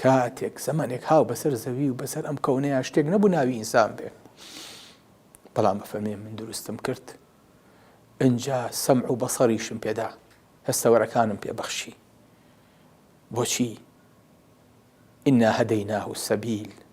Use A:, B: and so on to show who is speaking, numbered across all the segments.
A: کاتێک زەمەنێک هاو بەسەر زەوی و بەسەر ئەم کەونەیە شتێک نەبوو ناوی ئینسان بێ بەڵام بەفەرمێ من دروستم کرد ئەجا سەم و بەسەریشم پێدا هەستەوەرەکانم پێبەخشی بۆچی ئنا هەدەیناه و سەبیل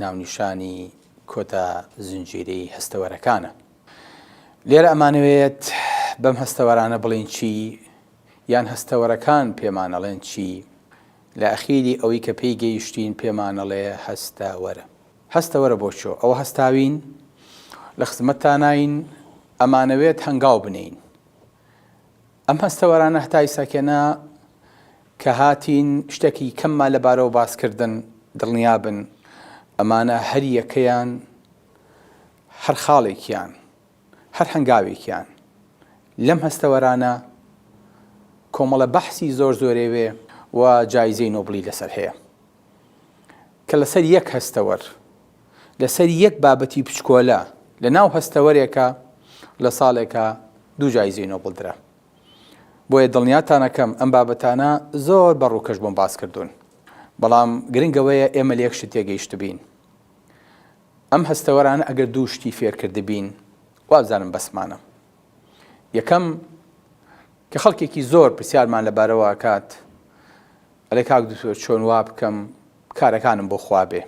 A: ناونیشانی کۆتا زنجیرەی هەستەوەرەکانە. لێرە ئەمانەوێت بەم هەستەوەرانە بڵێین چی، یان هەستەوەرەکان پێمانەڵێن چی، لە ئەخیری ئەوەی کە پێی گەیشتین پێمانەڵێ هەستەوەرە. هەستەوەرە بۆ چۆ ئەوە هەستاوین؟ لە خزمەتتاناین، ئەمانەوێت هەنگاو بنێین. ئەم هەستەوەرانە هەتا ئیساکێنە کە هاتین شتەکی کەممان لە بارەوە باس کردن، دڵنیا بن ئەمانە هەر یەکەیان هەر خاڵێکیان، هەر هەنگاوێکیان لەم هەستەوەرانە کۆمەڵە بەحسی زۆر زۆرێێ و جایزەی نۆبڵی لەسەر هەیە کە لەسەر یەک هەستەوەر، لەسەر یەک بابەتی پچکۆلە لە ناو هەستەوەرێکە لە ساڵێکا دوو جایزەی نۆبڵ درا. بۆیە دڵنیاتان ئەکەم ئەم بابەتانە زۆر بە ڕووکەش بۆم باس کردوون. بەڵام گرنگ ئەوەیە ئێمە لە یەک شت تێگەیشتبین. ئەم هەستەوەرانە ئەگەر دوو شتی فێر کردبین، وابزانم بەسمانە. یەکەم، کە خەڵکێکی زۆر پرسیارمان لەبارەوە ئەکات، ئەڵێ کاک دوکتۆر چۆن وا بکەم کارەکانم بۆ خوا بێ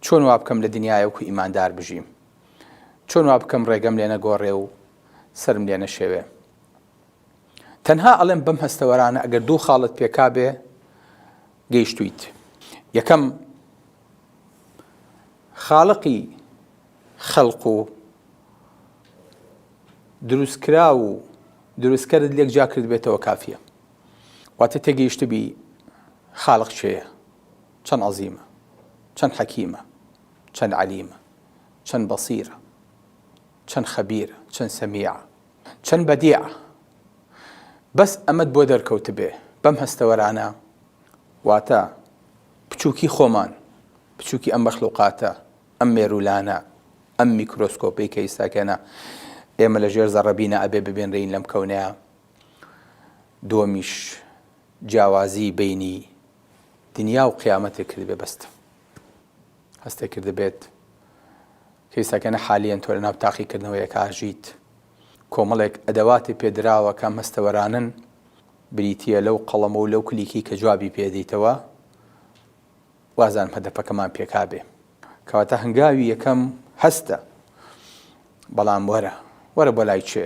A: چۆن وا بکەم لە دنیایە وەکو ئیماندار بژیم چۆن وا بکەم ڕێگەم لێ نەگۆڕێ و سەرم لێ نەشێوێ تەنها ئەڵێم بەم هەستەوەرانە ئەگەر دوو خاڵت پێکا بێ گەیشتویت یەکەم خاڵقی خەلق و دروستکرا و دروستکەرت لێک جا کرد بێتەوە کافیە واتە تێگەیشتبی خالق کێیە چەند عەزیمە چەند حەکیمە چەند عەلیمە چەند بەسیرە چەند خەبیرە چەند سەمیعە چەند بەدیعە بەس ئەمەد بۆ دەرکەوتبێ بەم هەستەوەرانە واتە بچووکی خۆمان بچووکی ئەم مەخلوقاتە ئەم مێرولانە ئەم میکرۆسکۆپی کە ئیساکەێنە ئێمە لە ژێر زەڕەبینە ئەبێ ببێنرین لەم کەونەیە دووەمیش جیاوازی بەینی دنیا و قیامەتێ کردبێ بەستم هەستێ کردبێت کەیسەکەنە حالیان تۆ لە ناو تاقیکردنەوەیەک ئاژیت کۆمەڵێک ئەدەواتی پێدراوە کە مەستەوەرانن بریتە لەو قەڵەمە و لەو کلیکی کە جوابی پێدەیتەوە وازان هەدەپەکەمان پێکابێ کەواتە هەنگاوی یەکەم هەستە بەڵام وەرە وەرە بۆ لای چێ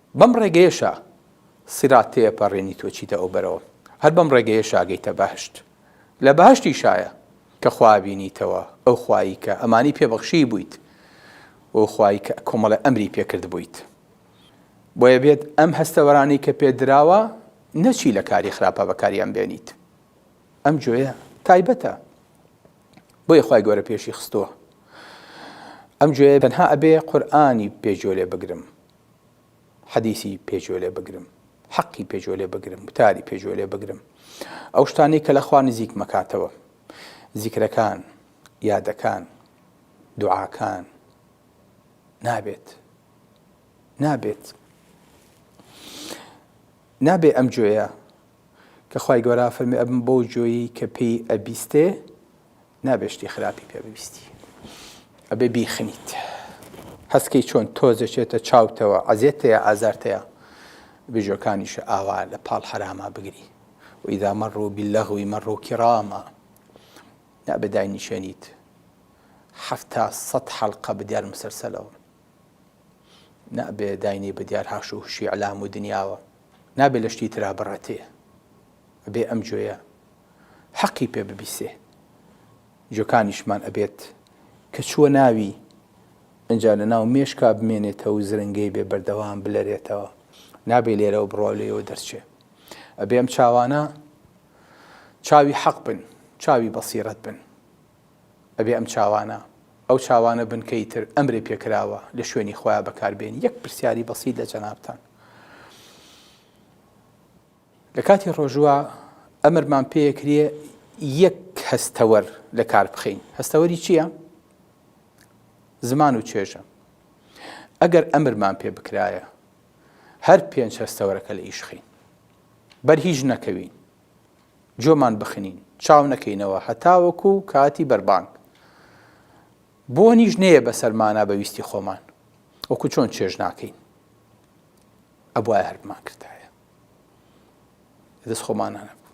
A: بەم ڕێگەیەشە سیرات تێئەپەڕێنی تۆ چیتە ئەو بەرەوە هەر بەم ڕێگەیەشە ئەگەیتە بەهەشت لە بەهەشتیشایە کە خوا ئەبینیتەوە ئەو خوایی کە ئەمانی پێ بەخشیبوویت و ئەو خوایی کە کۆمەڵە ئەمری پێ کردبوویت بۆیە بێت ئەم هەستەوەرانەی کە پێت دراوە نەچی لە کاری خراپە بەکاریان بێنیت ئەم جۆیە تایبەتە بۆیە خوای گەورە پێشی خستووە ئەم جۆیە تەنها ئەبێ قورئانی پێ جۆ لێ بگرم حەدیسی پێ گوێ لێ بگرم، حەقی پێ گوێ لێ بگرم، وتاری پێ گوێ لێ بگرم، ئەو شتانەی کە لە خوا نزیکم ئەکاتەوە، زیکرەکان، یادەکان، دوعاکان، نابێت، نابێت، نابێ ئەم گوێیە کە خوای گەورە فەرمی ئەبم بەو گوێی کە پێی ئەبیستێ، نابێ شتی خراپی پێ ببیستی ئەبێ بیخنیت هەست کەی چۆن تۆز دەچێتە چاوتەوە عەزێت هەیە ئازارت هەیە بژۆکانیشە ئاوا لە پاڵ حەراما بگری و ئیدا مەڕوو بیلەغوی مەڕوو کیڕاما نابێ داینیشێنیت حەفتا سەد حەڵقە بدیار مسەرسەلەوە نابێ داینی بدیار هاش و هوشی ئەلام و دنیاوە نابێ لە شتی ترا بڕەتێ ئەبێ ئەم جۆیە حەقی پێ ببیسێ جۆکانیشمان ئەبێت کە چووە ناوی ئنجا لە ناو مێشکا بمێنێتە و زرنگەی بێ بەردەوام بلەرێتەوە نابێ لێرەوە بڕوا لێەوە دەرچێ ئەبێم چاوانە چاوی حەق بن چاوی بەسیرەت بن ئەبێ ئەم چاوانە ئەو چاوانە بنکەی تر ئەمرێ پێکراوە لە شوێنی خۆیان بەکاربێن یەک پرسیاری بەسیید لە جەنابان لە کاتی ڕۆژووە ئەمرمان پێ ئەکرێ یەک هەستەوەر لە کار بخەین. هەستەوەری چییە؟ زمان و چێژە. ئەگەر ئەمرمان پێ بکرایە هەر پێنج هەستەوەرەکە لە ئیش خەین. بەر هیچ نەکەوین. جۆمان بخنین چاو نەکەینەوە هەتاوەکو و کاتی بەربانگ بۆ نیش نەیە بە سەرمانە بە ویستی خۆمان وەکو چۆن چێژ ناکەین ئەبواە هەرمان کردایە دەست خۆمانانە بوو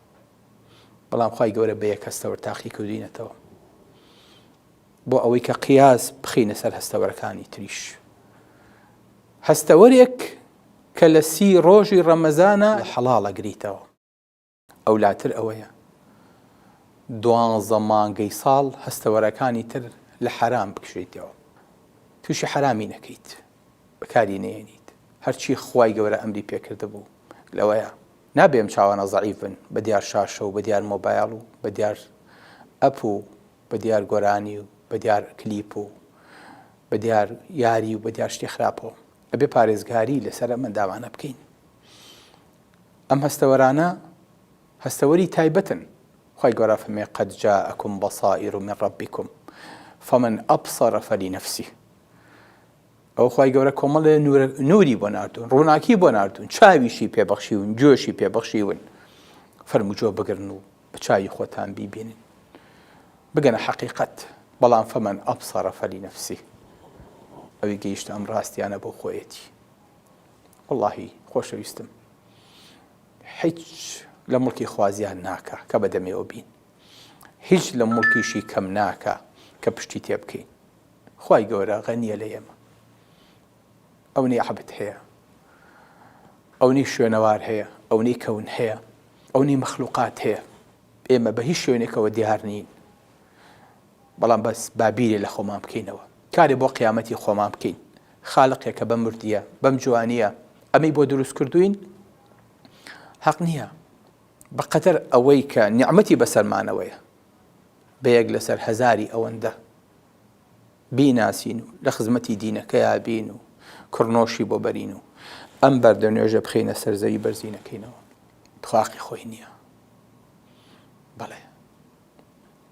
A: بەڵام خی گەورە بە یەک هەستەوەر تاقی کردینەتەوە بۆ ئەوەی کە قیاز بخینە سەر هەستەوەرەکانی تریش هەستەوەرێک کە لە سی ڕۆژی ڕەمەزانە حەڵاڵە گریتەوە ئەولاتر ئەوەیە دوانزە مانگەی ساڵ هەستەوەرەکانی تر لە حەرام بکشێیتەوە تووشی حەرامی نەکەیت بەکاری نێنیت هەرچی خوای گەورە ئەمری پێکردبوو لەوەیە نابێم چاوانە زعیفن بە دیار شاشە و بە دیار مۆبایل و بە دیار ئەپ و بە دیار گۆرانی و بە دیار کلیپ و بە دیار یاری و بە دیار شتی خراپەوە ئەبێ پارێزگاری لەسەر ئەمە داوانە بکەین ئەم هەستەوەرانە هەستەوەری تایبەتن، خوای گەورە فەرمێ، قد جاءکم بصائر من ربکم فمن ابصر فلنفسه، ئەوە خوای گەورە کۆمەڵێ نوری بۆ ناردوون، ڕووناکی بۆ ناردوون، چاویشی پێ بەخشیون، گوێشی پێ بەخشیون، فەرموو گوێ بگرن و بە چاوی خۆتان بیبینن، بگەنە حەقیقەت، بەڵام فمن ابصر فلنفسه، ئەوی گەیشتە ئەم ڕاستیانە بۆ خۆیەتی. وەڵاهی خۆشەویستم حیچ لە مڵکی خوا زیان ناکا کە بە دەمێوە بین هیچ لە مڵکیشی کەم ناکا کە پشتی تێ بکەین خی گەورە غەنیە لە ئێمە ئەونی عبت هەیە ئەونی شوێنەوار هەیە ئەونی کەون هەیە ئەونی مەخلوقات هەیە ئێمە بە هیچ شوێنێکەوە دیار نین بەڵام بەس بابیرێ لە خۆمان بکەینەوە کارێ بۆ قیامەتی خۆمان بکەین خالقێکە بەم وردیە بەم جوانیە ئەمەی بۆ دروست کردووین هەق نیە بەقەدەر ئەوەی کە نیعمەتی بەسەرمانەوەیە بە یەک لەسەر هەزاری ئەوەندە بیناسین و لە خزمەتی دینەکەیا بین و کڕنۆشی بۆ بەرین و ئەم بەردە نوێژە بخینە سەرزەوی بەرزینەکەینەوە تخواقی خۆی نییە بەڵێ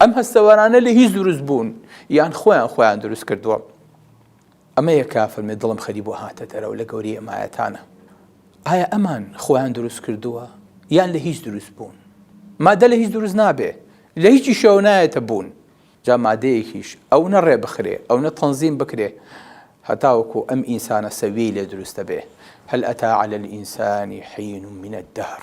A: ئەم هەستەوەرانە لە هیچ دروست بوون یان خۆیان خۆیان دروست کردووە ئەمە یە کا فەرمێ دڵم خەری بۆ هاتە دەرەوە لە گەوری ئەمایەتانە ئایا ئەمان خۆیان دروست کردووە یان لە هیچ دروست بوون مادە لە هیچ دروست نابێ لە هیچی شەو نایەتە بوون جا مادەیەکیش ئەو نە ڕێ بخرێ ئەو نە تەنزیم بکرێ هەتاوەکو ئەم ئینسانە سەویەی لێ دروستە بێ هەل ئەتا على الإنسان حين من الدهر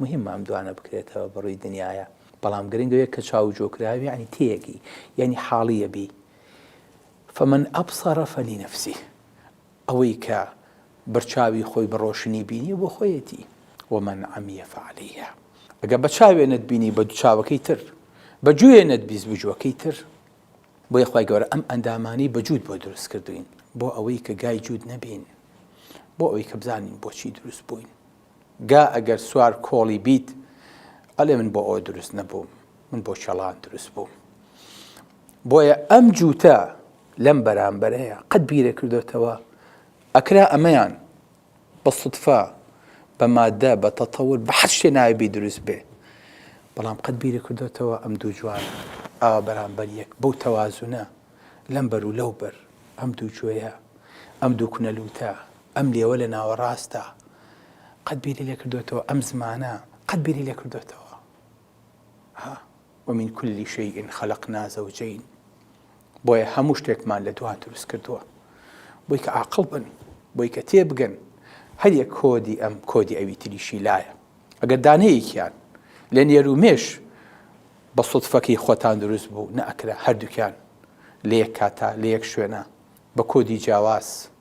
A: موهیمە ئەم دوانە بکرێتەوە بەڕوی دنیایا بەڵام گرنگ ئەوەیە کە چاو جۆ کراوی یەعنی تێیەگی یەعنی حاڵی یەبی فمن ابصر فلنفسه ئەوەی کە بەرچاوی خۆی بە ڕۆشنی بینی بۆ خۆیەتی ومن عمی فعلیە ئەگە بە چاوێ نەتبینی بە دوچاوەکەی تر بە جوێ نەتبیست بجووەکەی تر بۆ یخوای گەورە ئەم ئەندامانی بە جوود بۆ دروست کردوین بۆ ئەوەی کە گای جوود نەبین بۆ ئەوەی کە بزانین بۆچی دروست بووین گا ئەگەر سوار کۆڵی بیت ئەلێ من بۆ ئەوە دروست نەبووم من بۆ چێڵان دروست بووم بۆیە ئەم جووتە لەم بەرامبەرەیە قەت بیرە کردوێتەوە ئەکرا ئەمەیان بە سوتفا بە مادە بە تەتەور بە حەز شتێ ناوێبی دروست بێ بەڵام قەت بیرە کردوێتەوە ئەم دوو جوان ئاوا بەرامبەر یەک بەو تەوازونە لەم بەر و لەو بەر ئەم دوو جوێە ئەم دوو کونەلووتە ئەم لێوە لە ناوەڕاستە. قەت بیری لێ کردۆتەوە ئەم زمانە؟ قەت بیری لێ کردۆتەوە؟ ها؟ ومن کل شیء خلقنا زوجین بۆیە هەموو شتێکمان لە دوان دروست کردووە بۆی کە عاقڵ بن بۆی کە تێبگەن هەریە کۆدی ئەم کۆدی ئەوی تریشی لایە ئەگەر دانەیەکیان لە نێر و مێش بە سوتفەکەی خۆتان دروست بوو نەئەکرا هەردووکیان لە یەک کاتا لە یەک شوێنە بە کۆدی جیاواز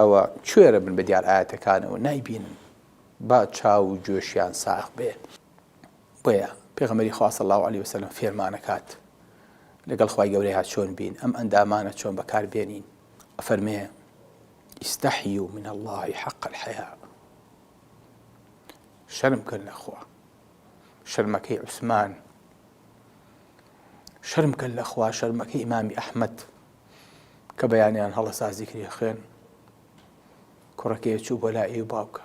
A: ئەوە کوێرە بن بە دیار ئایەتەکانەوە نایبینن با چاو و گوێشیان ساغ بێ بۆیە پێغەمەری خوا صلی الله علیه وسلم فێرمانەکات لەگەڵ خوای گەورەیە چۆن بین ئەم ئەندامانە چۆن بەکاربێنین ئەفەرمێ ئیستەحی و من اللهی حق الحیا شەرم کەن لەخوا شەرمەکەی عوسمان شەرم کەن لەخوا شەرمەکەی ئیمامی ئەحمد کە بەیانیان هەڵە سازی کری خوێن کوڕەکەی چوو بۆ لا ئێ باوکە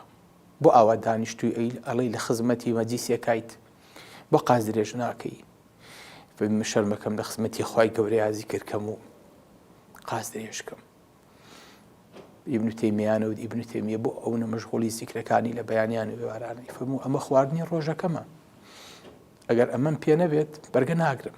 A: بۆ ئاوا دانیشتوی ئەیل ئەڵی لە خزمەتی مەجیسیەکایت بۆ قاز درێژ ناکەی شەرمەکەم لە خزمەتی خی گەورەیازی کردکەم و قاز درێژکەم ئیبن تێمیانە و ئیبن تێمیە بۆ ئەو نە مەشغولی زیکرەکانی لە بەیانیان و وێوارانەی فەرموو ئەمە خواردنی ڕۆژەکەمە ئەگەر ئەمەم پێ نەبێت بەرگە ناگرم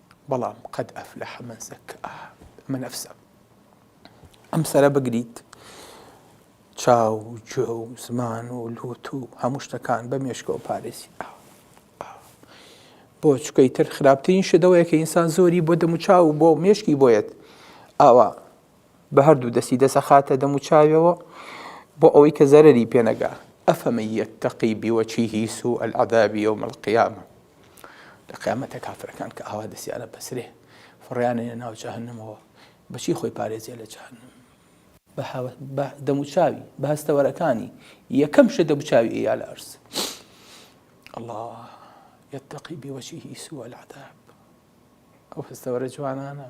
A: بەڵام قد افلح من زکاها ئەمە نەفسە ئەم سەرە بگریت چاو و گوێ و زمان و لوت و هەموو شتەکان بە مێشکەوە پارێزی بۆ چکەی تر خراپترین شدەوەیە کە ئینسان زۆری بۆ دەموچاو و بۆ مێشکی بۆیەت ئاوا بە هەردوو دەستی دەسەخاتە دەم و چاویەوە بۆ ئەوەی کە زەرەری پێ نەگا ئەفەمەن یەتەقی بوەچیهی سوء العذاب یوم القیامە لە قیامەتە کافرەکان کە ئاوا دەسیانە بەسرێ فڕیانێنە ناو جەهەنمەوە بەچی خۆی پارێزێ لە جەهەنم بە دەموچاوی بە هەستەوەرەکانی یەکەم شە دەموچاوی ئەیا لە ئەرز الله يتقي بوجهه سوء العذاب ئەو هەستەوەرە جوانانە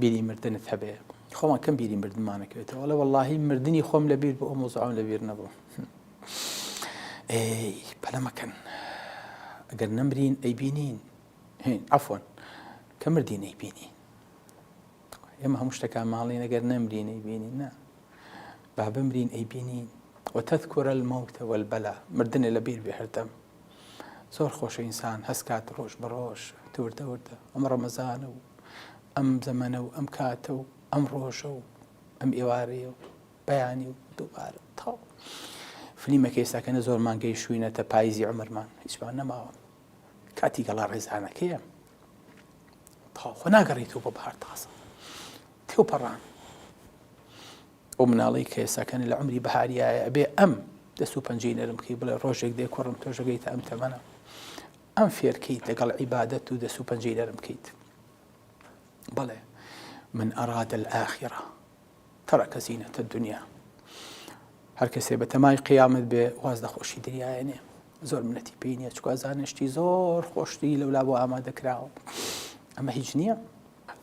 A: بیری مردنت هەبێ خۆمان کەم بیری مردمانەکەوێتەوە وەڵێ وەڵاهی مردنی خۆم لەبیر بۆ ئەو مۆزعم لەبیر نەبوو ئێ پەلەمەکەن ئەگەر نەمرین ئەی بینین ئەفۆن کە مردین ئەی بینین ئێمە هەموو شتەکان ماڵین ئەگەر نەمرین ئەی بینین نا با بمرین ئەی بینین وتەذکر الموت والبلا مردنێ لەبیر بێ هەردەم زۆر خۆشە ئینسان هەستکات ڕۆژ بە ڕۆژ تورتە وردە ئەم ڕەمەزانە و ئەم زەمەنە و ئەم کاتە و ئەم ڕۆژە و ئەم ئێوارەیە و بەیانی و دووبارە تاو فلیمەکە ئێستاکەنە زۆر مانگەی شوینە تە پاییزی عمرمان هیچمان نەماوە کاتی گەڵا ڕێزانەکەیە تاخۆ ناگەڕیتەوە بە بەهار تازە تێو پەڕان ئەو مناڵەی کە ئێستا کەنە لە عومری بەهاری ئایە ئەبێ ئەم دەست و پەنجەی نەرم بکەی بڵێ ڕۆژێک دێ کوڕم تۆش ئەگەیتە ئەم تەمەنە ئەم فێرکەیت لەگەڵ عیبادەت و دەست و پەنجەی نەرم بکەیت بەڵێ من ئەراد الآخرە تەرەکە زینەتە دنیا هەر کەسێ بە تەمای قیامەت بێ واز لە خۆشی دنیاەنێ زۆر منەتی پێی نیە چکە زانشتی زۆر خۆشتی لەولا بۆ ئامادەکراوە ئەمە هیچ نییە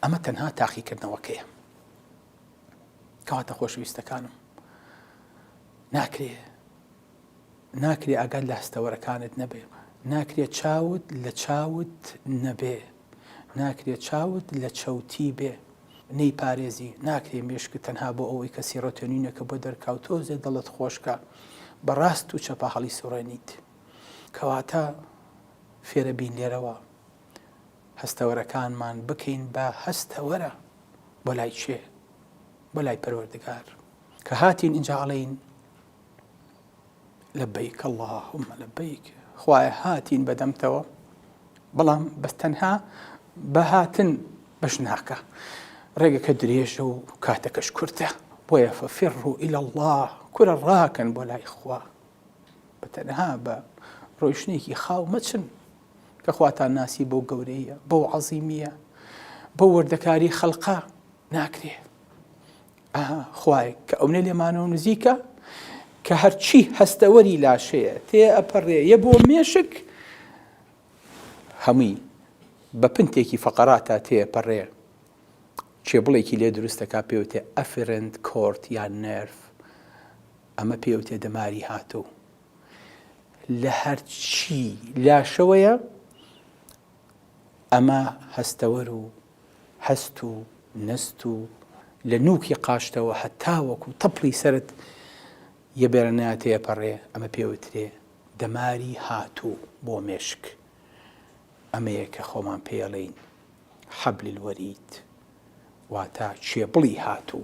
A: ئەمە تەنها تاقیکردنەوەکەیە کەواتە خۆشەویستەکانم ناکرێ ناکرێ ئاگات لە هەستەوەرەکانت نەبێ ناکرێت چاوت لە چاوت نەبێ ناکرێت چاوت لە چەوتی بێ نەی پارێزی ناکرێ مێشک تەنها بۆ ئەوەی کە سیڕۆتێنینەکە بۆ دەرکاو تۆزێ دەڵت خۆشکە بەڕاست و چەپە هەڵی سوڕێنیت کەواتە فێرە بین لێرەوە هەستەوەرەکانمان بکەین بە هەستەوەرە بۆ لای چێ بۆ لای پەروەردگار کە هاتین ئینجا ئەڵین لە بیک اللهم لە بیک خوایە هاتین بەدەمتەوە بەڵام بەس تەنها بەهاتن بەش ناکە ڕێگەکە درێژە و کاتەکەش کورتە بۆیە فەفێڕ و ئیل الله کورە ڕاکەن بۆ لای خوا بە تەنها بە ڕۆیشتنێکی خاو مەچن کە خواتان ناسی بەو گەورەییە، بەو عەزیمییە، بەو وردەکاری خەلقە ناکرێ. ئەها خوایەک کە ئەونە لێمانەوە نزیکە کە هەرچی هەستەوەری لاشەیە تێ ئەپەڕێ یە بۆ مێشک هەمووی بە پنتێکی فەقەراتا تێپەڕێ کێبڵێکی لێ دروستەکە پێوتێ ئەفرند کۆرت یان نرف ئەمە پێوتێ دەماری هاتوو لە هەرچی لاشەوەیە ئەمە هەستەوەر و هەست و نەست و لە نوکی قاشتەوە هەتاوەکو و تەپڵی سرد یەبێرەناتەیە پەڕێ ئەمە پێوترێ دەماری هاتوو بۆ مێشک ئەمەیە کە خۆمان پێڵین حەبلی الوەرید واتا چێبڵی هاتوو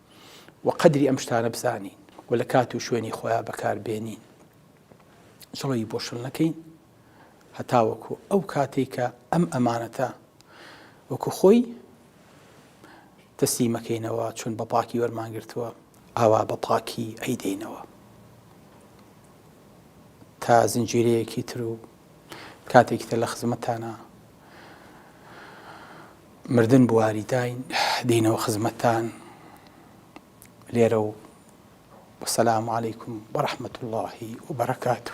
A: و قەدری ئەم شتانە بزانین و لە کات و شوێنی خۆیان بەکاربێنین جڵەوی بۆ شل نەکەین هەتاوەکو ئەو کاتێک کە ئەم ئەمانەتە وەکو خۆی تەسلیمەکەینەوە چون بە پاکی وەرمانگرتووە ئاوا بە پاکی ئەیدەینەوە تا زنجیرەیەکی تر و کاتێکتە لە خزمەتانە مردن بواری داین دینەوە خزمەتان لێرە و وسلام علیکم وەرحمەت اللە وبرکاته.